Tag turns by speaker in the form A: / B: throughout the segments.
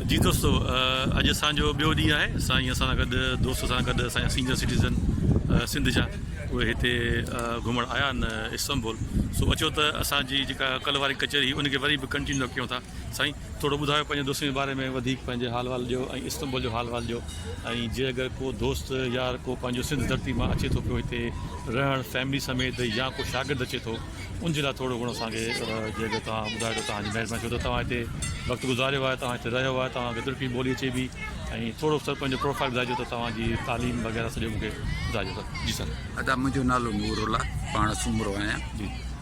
A: جي دوستو اڄ اسان جو ٻيو ڏينهن آهي سائين اسان سان گڏ دوست سان گڏ اسان جا سينئر سٽيزن سنڌ جا اهي هتي گهمڻ آيا آهن استنبول سو اچو ته اسان جي جيڪا ڪلهه واري ڪچهري هئي ان کي وري به ڪنٽينيو ڪيون ٿا سائين ٿورو ٻڌايو پنهنجي دوستن جي باري ۾ وڌيڪ پنهنجي حال وال ڏيو ۽ استنبول جو حال وال ڏيو ۽ جي اگر ڪو دوست يار ڪو پنهنجو سنڌ ڌرتي مان اچي ٿو پيو هتي رهڻ فيملي سميت يا ڪو شاگرد اچي ٿو ان جي لاء ٿورو گهڻو اسان کي جي اگر توهان ٻڌايو ته توهان جي مهرباني ڇو ته توهان هتي وقت گذاريو آهي توهان هتي رهيو آهي توهان کي ترڪي ٻولي اچي ٿي ۽ ٿورو سر پنهنجو پروفائيل ٻڌائجو ته توهان جي تعليم وغيره سڄو مون کي ٻڌائجو سر جي سر. ادا منهنجو نالو
B: نور الله پاڻ سومرو آهيان. جي.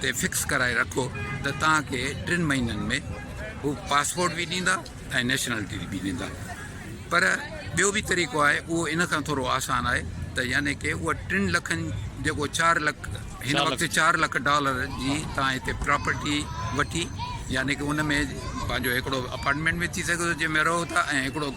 B: تي فڪس ڪرائي رکو ته توهان کي ٽن مهينن ۾ هو پاسپورٽ به ڏيندا ۽ نيشنلٽي به ڏيندا پر ٻيو به طريقو آهي اهو ان کان ٿورو آسان آهي ته يعني ڪي اها ٽن لکن جيڪو چار لک هن وقت چار لک ڊالر جي توهان هتي پراپرٽي وٺي يعني ڪي ان ۾ پنهنجو هڪڙو اپارٽمنٽ به ٿي سگهي ٿو جنهن ۾ رهو ٿا ۽ هڪڙو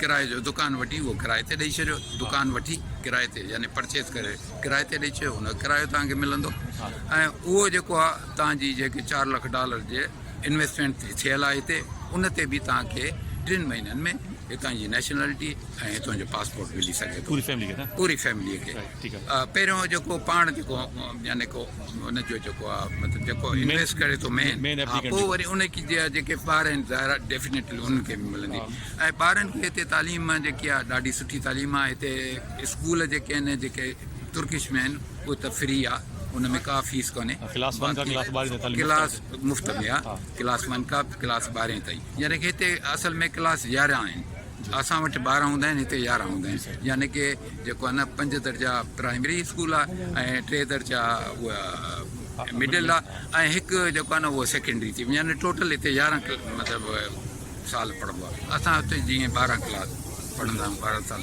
B: ڪرائي جو دڪان وٺي اهو ڪرائي تي ڏئي ڇڏيو دڪان وٺي ڪرائي تي يعني پرچيز ڪري ڪرائي تي ڏئي ڇڏيو ان جو ڪرايو توهان کي ملندو ۽ اهو جيڪو آهي توهان جي جيڪي چار لک ڊالر جي انويسٽمينٽ تي ٿيل آهي هتي ان تي به توهان کي ٽن مهينن ۾ هتان جي نيشنلٽي ۽ هتان جو پاسپورٽ ملي سگهي ٿو پوري فيملي کي پوري فيملي کي پهريون جيڪو پاڻ جيڪو يعني ڪو ان جو جيڪو آ مطلب جيڪو انويسٽ ڪري ٿو مين ها پوء وري ان کي جي جيڪي ٻار آهن ظاهر آهي ڊيفنيٽلي انهن کي به ملندي ۽ ٻارن کي هتي تعليم جيڪي آ ڏاڍي سٺي تعليم آ هتي اسڪول جيڪي آهن جيڪي ترڪش ۾ آهن اهي ته فري آ ان ۾ ڪا فيس ڪونهي ڪلاس ون کان ڪلاس ٻارهين تائين ڪلاس مفت ۾ آ ڪلاس ون کان ڪلاس ٻارهين تائين يعني هتي اصل ۾ ڪلاس يارهن آهن اسان وٽ ٻارهن هوندا آهن هتي يارهن هوندا آهن يعني ڪي جيڪو آهي نه پنج درجا پرائمري اسڪول آهي ۽ ٽي درجا اها مڊل آهي ۽ هڪ جيڪو آهي نه اهو سيڪنڊري ٿي يعني ٽوٽل هتي يارهن مطلب سال پڙهبو آهي اسان هتي جيئن ٻارهن ڪلاس پڙهندا آهيون ٻارهن سال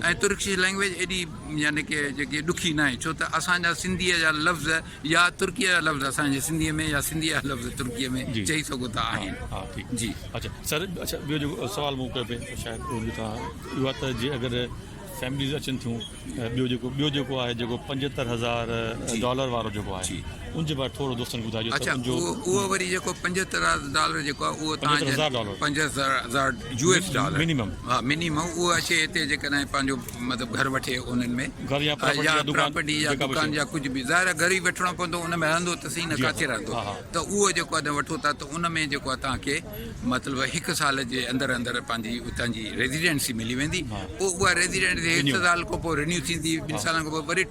B: ۽ ترڪش لئنگويج ايڏي يعني ڪي جيڪي ڏکي ناهي ڇو ته اسان جا سنڌيء جا لفظ يا ترڪيء جا لفظ اسان جي سنڌيء ۾ يا سنڌيء جا لفظ ترڪيء ۾ جي چئي سگهو ٿا ها آهن ها ٺيڪ جي اڇا سر
A: اڇا ٻيو جيڪو سوال مون ڪيو پئي شايد اهو ڏٺا اهو آهي ته جي اگر فيمليز اچن ٿيون ٻيو جيڪو ٻيو جيڪو آهي جيڪو پنجهتر هزار جي ڊالر وارو جيڪو آهي جي ان جي باري ٿورو دوستن کي ٻڌائجو ته ان جو اچا اهو
B: وري جيڪو پنجهتر ڊالر جيڪو آهي اهو تان هزار ڊالر پنجهتر هزار يو ايس ڊالر مينيمم ها مينيمم اهو اچي هتي جيڪڏهن پنهنجو مطلب گهر وٺي انهن ۾ گهر يا پراپرٽي يا دڪان يا ڪجهه به ظاهر آهي گهر ئي وٺڻو پوندو ان ۾ رهندو ته سهي نه ڪاٿي رهندو ته اهو جيڪو آهي تڏهن وٺو ٿا ته ان ۾ جيڪو آهي تان کي مطلب هڪ سال جي اندر اندر پنهنجي اتان جي ريزيڊنسي ملي ويندي پوء اها ريزيڊنسي هڪ سال کان پوء رينيو ٿيندي ٻن سالن کان پوء وري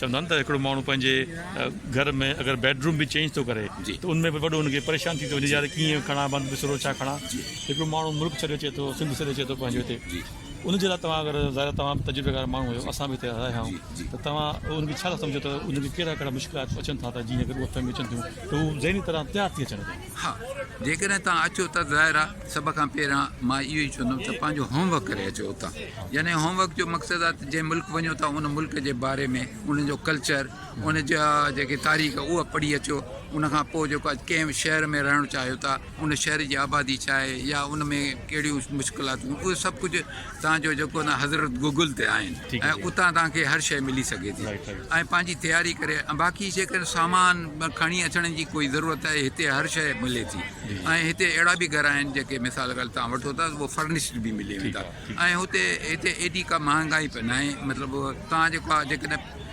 A: چوندا آهن ته هڪڙو ماڻهو پنهنجي گهر ۾ اگر بيڊ روم به چينج ٿو ڪري ته ان ۾ به وڏو ان کي
B: پريشان
A: ٿي ٿو وڃي يار ڪيئن کڻان بند بسرو ڇا کڻان هڪڙو ماڻهو ملڪ ڇڏي اچي ٿو سنڌ ڇڏي اچي ٿو پنهنجو هتي ان جي لاء توهان اگر ظاهر توهان به تجربيڪار ماڻهو آهيو اسان به هتي رهيا آهيون ته توهان ان کي ڇا ٿا سمجهو ته ان کي ڪهڙا ڪهڙا مشڪلات اچن ٿا ته جيئن اگر اهي فيمليون اچن ٿيون ته هو ذهني طرح تيار ٿي اچن ها، جيڪڏهن
B: توهان اچو ته ظاهر آ سڀ کان پهريان مان اهو ئي چوندم ته پنهنجو هوم ورڪ ڪري اچو اتان. يعني هوم ورڪ جو مقصد آ ته جنهن ملڪ وڃو ٿا ان ملڪ جي باري ۾ ان جو ڪلچر، ان جا جيڪي تاريخ اها پڙهي اچو. ان کان پوء جيڪو آ ڪنهن به شهر ۾ رهڻ چاهيو ٿا، ان شهر جي آبادي ڇا آهي يا ان ۾ ڪهڙيون مشڪلاتون اهي سڀ ڪجهه. تان جو جيڪو نه حضرت گوگل تي آهن ۽ اتان تان کي
A: هر شئي
B: ملي سگهي ٿي ۽ پنهنجي تياري
A: ڪري
B: ۽ باقي جيڪر سامان کڻي اچڻ جي ڪوئي ضرورت آهي هتي هر شئي ملي ٿي ۽ هتي اهڙا به گهر آهن جيڪي مثال ڳالهه تان وٺو ٿا هو فرنشٽ به ملي ويندا ۽ هتي هتي ايڏي ڪا مهانگائي به ناهي مطلب تان جيڪو آهي جيڪڏهن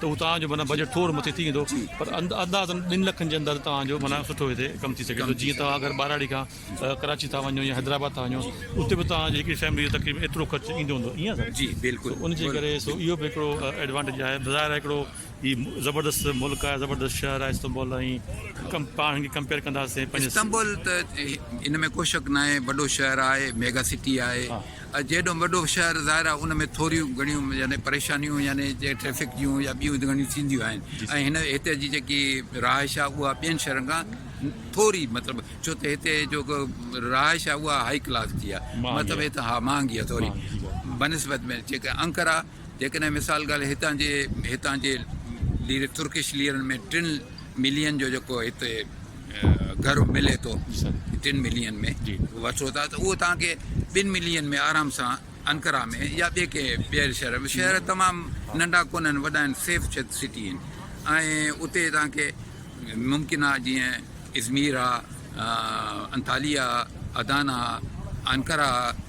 A: ته هو توهان جو معنيٰ
B: بجيٽ
A: ٿور مٿي ٿي ويندو پر اندازن ٻن لکن جي اندر توهان جو معنيٰ سٺو هتي ڪم ٿي سگهي ٿو جيئن توهان اگر ٻهراڙي کان ڪراچي ٿا وڃو يا حيدرآباد ٿا وڃو اتي به توهان جي هڪڙي فيملي جو تقريبن ايترو خرچ ايندو هوندو ائين آهي جي بلڪل سو ان جي
B: ڪري سو اهو
A: به هڪڙو ايڊوانٽيج آهي بظاهر آهي هڪڙو هي زبردست ملڪ آهي زبردست شهر آهي استنبول ۽ پاڻ هن کي ڪمپيئر ڪنداسين پنهنجي استنبول ته
B: ان ۾ ڪو شڪ ناهي وڏو شهر آهي ميگا سٽي آهي جيڏو وڏو شهر ظاهر آهي ان ۾ ٿوريون گهڻيون يعني پريشانيون يعني جي ٽريفڪ جون يا ٻيون گهڻيون ٿينديون آهن ۽ هن هتي جي جيڪي رهائش آهي اها ٻين شهرن کان ٿوري مطلب ڇو ته هتي جو رهائش آهي اها هائي ڪلاس جي آهي مطلب هتي ها مهانگي آهي ٿوري بنسبت ۾ جيڪا انڪرا جيڪڏهن مثال ڳالهه هتان جي هتان جي ليري ترڪش ليرن ۾ ٽن ملين جو جيڪو هتي گهر ملي ٿو ٽن ملين ۾ وٺو ٿا ته اهو تان کي ٻن ملين ۾ آرام سان انڪرا ۾ يا ٻي ڪنهن ٻير شهر ۾ شهر تمام ننڍا ڪون آهن وڏا آهن سيف سٽي آهن ۽ اتي تان کي ممڪن آهي جيئن ازمير آهي انتاليا آهي ادانا آهي انڪرا آهي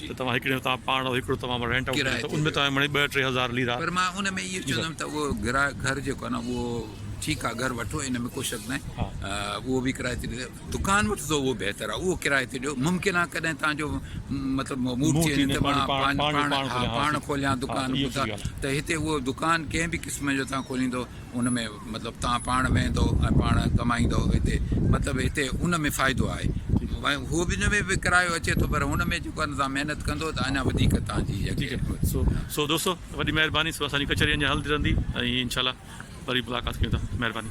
A: ته توهان هڪڙي ۾ توهان پاڻ رهو هڪڙو توهان رينٽ آئوٽ ڪريو ته ان ۾ توهان مڙئي ٻه ٽي
B: هزار
A: ليرا. پر مان ان ۾ اهو چوندم
B: ته اهو ڪرايو گهر جيڪو آهي نه اهو ٺيڪ آهي گهر وٺو ان ۾ ڪو شڪ ناهي اهو به
A: ڪرايو
B: تي ڏيو دڪان وٺندو اهو بهتر آهي اهو ڪرايو تي ڏيو ممڪن آهي ڪڏهن توهان جو مطلب موڊ ٿي وڃي ته مان پاڻ
A: پاڻ
B: کوليان دڪان ته هتي
A: اهو دڪان
B: ڪنهن به قسم جو توهان کوليندو ان ۾ مطلب تان پاڻ ويهندو ۽ پاڻ ڪمائيندو هتي مطلب هتي ان ۾ فائدو آهي هو به ان ۾ به ڪرايو اچي ٿو پر هن ۾ جيڪو تان محنت ڪندو ته اڃا وڌيڪ تانجي سو
A: سو دوستو وڏي مهرباني سو اسان جي ڪچهري اڃا هلندي رهندي ۽ انشاء الله وري ملاقات ڪيون ٿا مهرباني